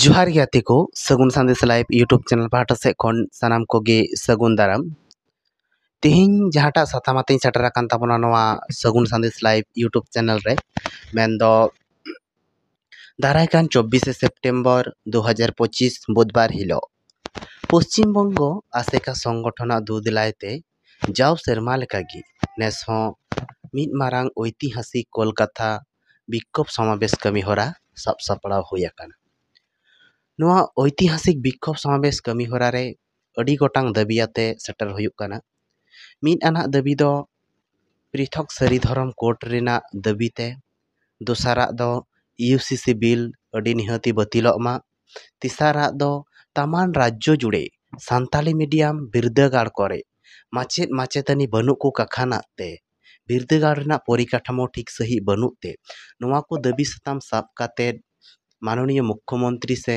ᱡᱚᱦᱟᱨ ᱜᱮ ᱜᱟᱛᱮ ᱠᱚ Sagun Sandesh live YouTube channel ᱯᱟᱦᱴᱟ ᱥᱮᱫ ᱠᱷᱚᱱ ᱥᱟᱱᱟᱢ ᱠᱚᱜᱮ ᱥᱟᱹᱜᱩᱱ ᱫᱟᱨᱟᱢ ᱛᱮᱦᱮᱧ ᱡᱟᱦᱟᱸᱴᱟᱜ ᱥᱟᱛᱟᱢ ᱟᱛᱮᱧ ᱥᱮᱴᱮᱨ ᱟᱠᱟᱱ ᱛᱟᱵᱚᱱᱟ ᱱᱚᱣᱟ Sagun Sandesh live YouTube channel ᱨᱮ ᱢᱮᱱᱫᱚ ᱫᱟᱨᱟᱭ ᱠᱟᱱ ᱪᱚᱵᱵᱤᱥᱮ ᱥᱮᱯᱴᱮᱢᱵᱚᱨ ᱫᱩ ᱦᱟᱡᱟᱨ ᱯᱚᱸᱪᱤᱥ ᱵᱩᱫᱷᱵᱟᱨ ᱦᱤᱞᱳᱜ ᱯᱚᱥᱪᱤᱢ ᱵᱚᱝᱜᱚ ᱟᱥᱮᱠᱟ ᱥᱚᱝᱜᱚᱴᱷᱚᱱᱟᱜ ᱫᱩᱫᱽᱞᱟᱭ ᱛᱮ ᱡᱟᱣ ᱥᱮᱨᱢᱟ ᱞᱮᱠᱟ ᱜᱮ ᱱᱮᱥ ᱦᱚᱸ ᱢᱤᱫ ᱢᱟᱨᱟᱝ ᱳᱭᱛᱤᱦᱟᱥᱤᱠ ᱠᱳᱞᱠᱟᱛᱟ ᱵᱤᱠᱠᱷᱳᱵᱽ ᱥᱚᱢᱟᱵᱮᱥ ᱠᱟᱹᱢᱤ ᱦᱚᱨᱟ ᱥᱟᱵ ᱥᱟᱯᱲᱟᱣ ᱦᱩᱭ ᱟᱠᱟᱱᱟ ᱱᱚᱣᱟ ᱳᱭᱛᱤᱦᱟᱥᱤᱠ ᱵᱤᱠᱠᱷᱳᱵᱽ ᱥᱚᱢᱟᱵᱮᱥ ᱠᱟᱹᱢᱤ ᱦᱚᱨᱟ ᱨᱮ ᱟᱹᱰᱤ ᱜᱚᱴᱟᱝ ᱫᱟᱹᱵᱤ ᱟᱛᱮ ᱥᱮᱴᱮᱨ ᱦᱩᱭᱩᱜ ᱠᱟᱱᱟ ᱢᱤᱫ ᱟᱱᱟᱜ ᱫᱟᱹᱵᱤ ᱫᱚ ᱯᱨᱤᱛᱷᱚᱠ ᱥᱟᱹᱨᱤ ᱫᱷᱚᱨᱚᱢ ᱠᱳᱰ ᱨᱮᱱᱟᱜ ᱫᱟᱹᱵᱤ ᱛᱮ ᱫᱚᱥᱟᱨᱟᱜ ᱫᱚ ᱤᱭᱩ ᱥᱤ ᱥᱤ ᱵᱤᱞ ᱟᱹᱰᱤ ᱱᱤᱦᱟᱹᱛᱤ ᱵᱟᱹᱛᱤᱞᱚᱜ ᱢᱟ ᱛᱮᱥᱟᱨᱟᱜ ᱫᱚ ᱛᱟᱢᱟᱱ ᱨᱟᱡᱽᱡᱚ ᱡᱩᱲᱮ ᱥᱟᱱᱛᱟᱲᱤ ᱢᱤᱰᱤᱭᱟᱢ ᱵᱤᱨᱫᱟᱹᱜᱟᱲ ᱠᱚᱨᱮ ᱢᱟᱪᱮᱫ ᱢᱟᱪᱮᱛᱟᱹᱱᱤ ᱵᱟᱹᱱᱩᱜ ᱠᱚ ᱠᱟᱠᱷᱟᱱᱟᱜ ᱛᱮ ᱵᱤᱨᱫᱟᱹᱜᱟᱲ ᱨᱮᱱᱟᱜ ᱯᱚᱨᱤᱠᱟᱴᱷᱟᱢᱳ ᱴᱷᱤᱠ ᱥᱟᱺᱦᱤᱡ ᱵᱟᱹᱱᱩᱜ ᱛᱮ ᱱᱚᱣᱟ ᱠᱚ ᱫᱟᱹᱵᱤ ᱥᱟᱛᱟᱢ ᱥᱟᱵ ᱠᱟᱛᱮᱫ ᱢᱟᱱᱚᱱᱤᱭᱚ ᱢᱩᱠᱠᱷᱚ ᱢᱚᱱᱛᱨᱤ ᱥᱮ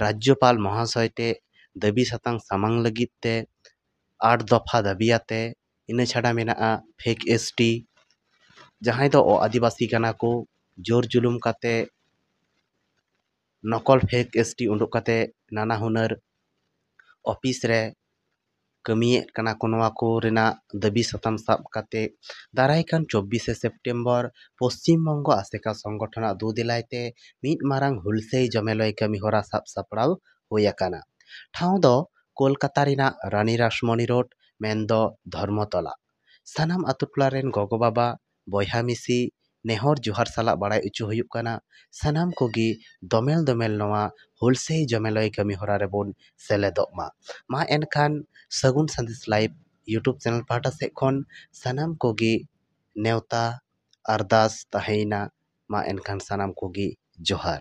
ᱨᱟᱡᱽᱡᱚᱯᱟᱞ ᱢᱚᱦᱟᱥᱚᱭ ᱴᱷᱮᱱ ᱫᱟᱹᱵᱤ ᱥᱟᱛᱟᱢ ᱥᱟᱢᱟᱝ ᱞᱟᱹᱜᱤᱫ ᱛᱮ ᱟᱴ ᱫᱚᱯᱷᱟ ᱫᱟᱹᱵᱤᱭᱟᱛᱮ ᱤᱱᱟᱹ ᱪᱷᱟᱰᱟ ᱢᱮᱱᱟᱜᱼᱟ ᱯᱷᱮᱠ ᱮᱥ ᱴᱤ ᱡᱟᱦᱟᱸᱭ ᱫᱚ ᱟᱹᱫᱤᱵᱟᱹᱥᱤ ᱠᱟᱱᱟ ᱠᱚ ᱡᱳᱨ ᱡᱩᱞᱩᱢ ᱠᱟᱛᱮ ᱱᱚᱠᱚᱞ ᱯᱷᱮᱠ ᱮᱥ ᱴᱤ ᱩᱰᱩᱠ ᱠᱟᱛᱮ ᱱᱟᱱᱟ ᱦᱩᱱᱟᱹᱨ ᱚᱯᱷᱤᱥ ᱨᱮ ᱠᱟᱹᱢᱤᱭᱮᱫ ᱠᱟᱱᱟ ᱠᱚ ᱱᱚᱣᱟ ᱠᱚ ᱨᱮᱱᱟᱜ ᱫᱟᱹᱵᱤ ᱥᱟᱛᱟᱢ ᱥᱟᱵ ᱠᱟᱛᱮ ᱫᱟᱨᱟᱭ ᱠᱟᱱ ᱪᱚᱵᱵᱤᱥᱮ ᱥᱮᱯᱴᱮᱢᱵᱚᱨ ᱯᱚᱥᱪᱤᱢ ᱵᱚᱝᱜᱚ ᱟᱥᱮᱠᱟ ᱥᱚᱝᱜᱚᱴᱷᱚᱱ ᱟᱜ ᱫᱩᱼᱫᱮᱞᱟᱭ ᱛᱮ ᱢᱤᱫ ᱢᱟᱨᱟᱝ ᱦᱩᱞᱥᱟᱹᱭ ᱡᱚᱢᱮᱞᱟᱹᱭ ᱠᱟᱹᱢᱤ ᱦᱚᱨᱟ ᱥᱟᱵ ᱥᱟᱯᱲᱟᱣ ᱦᱩᱭ ᱟᱠᱟᱱᱟ ᱴᱷᱟᱶ ᱫᱚ ᱠᱳᱞᱠᱟᱛᱟ ᱨᱮᱱᱟᱜ ᱨᱟᱱᱤ ᱨᱟᱥᱢᱚᱱᱤ ᱨᱳᱰ ᱢᱮᱱ ᱫᱚ ᱫᱷᱚᱨᱢᱚ ᱛᱚᱞᱟ ᱥᱟᱱᱟᱢ ᱟᱛᱳ ᱴᱚᱞᱟ ᱨᱮᱱ ᱜᱚᱜᱚ ᱵᱟᱵᱟ ᱵᱚᱭᱦᱟ ᱢᱤᱥᱤ ᱱᱮᱦᱚᱨ ᱡᱚᱦᱟᱨ ᱥᱟᱞᱟᱜ ᱵᱟᱲᱟᱭ ᱚᱪᱚ ᱦᱩᱭᱩᱜ ᱠᱟᱱᱟ ᱥᱟᱱᱟᱢ ᱠᱚᱜᱮ ᱫᱚᱢᱮᱞ ᱫᱚᱢᱮᱞ ᱱᱚᱣᱟ ᱦᱩᱞ ᱥᱟᱹᱭ ᱡᱚᱢᱮᱞᱟᱹᱭ ᱠᱟᱹᱢᱤ ᱦᱚᱨᱟ ᱨᱮᱵᱚᱱ ᱥᱮᱞᱮᱫᱚᱜ ᱢᱟ ᱢᱟ ᱮᱱᱠᱷᱟᱱ Sagun Sandesh live YouTube channel ᱯᱟᱦᱴᱟ ᱥᱮᱫ ᱠᱷᱚᱱ ᱥᱟᱱᱟᱢ ᱠᱚᱜᱮ ᱱᱮᱣᱛᱟ ᱟᱨᱫᱟᱥ ᱛᱟᱦᱮᱸᱭᱮᱱᱟ ᱢᱟ ᱮᱱᱠᱷᱟᱱ ᱥᱟᱱᱟᱢ ᱠᱚᱜᱮ ᱡᱚᱦᱟᱨ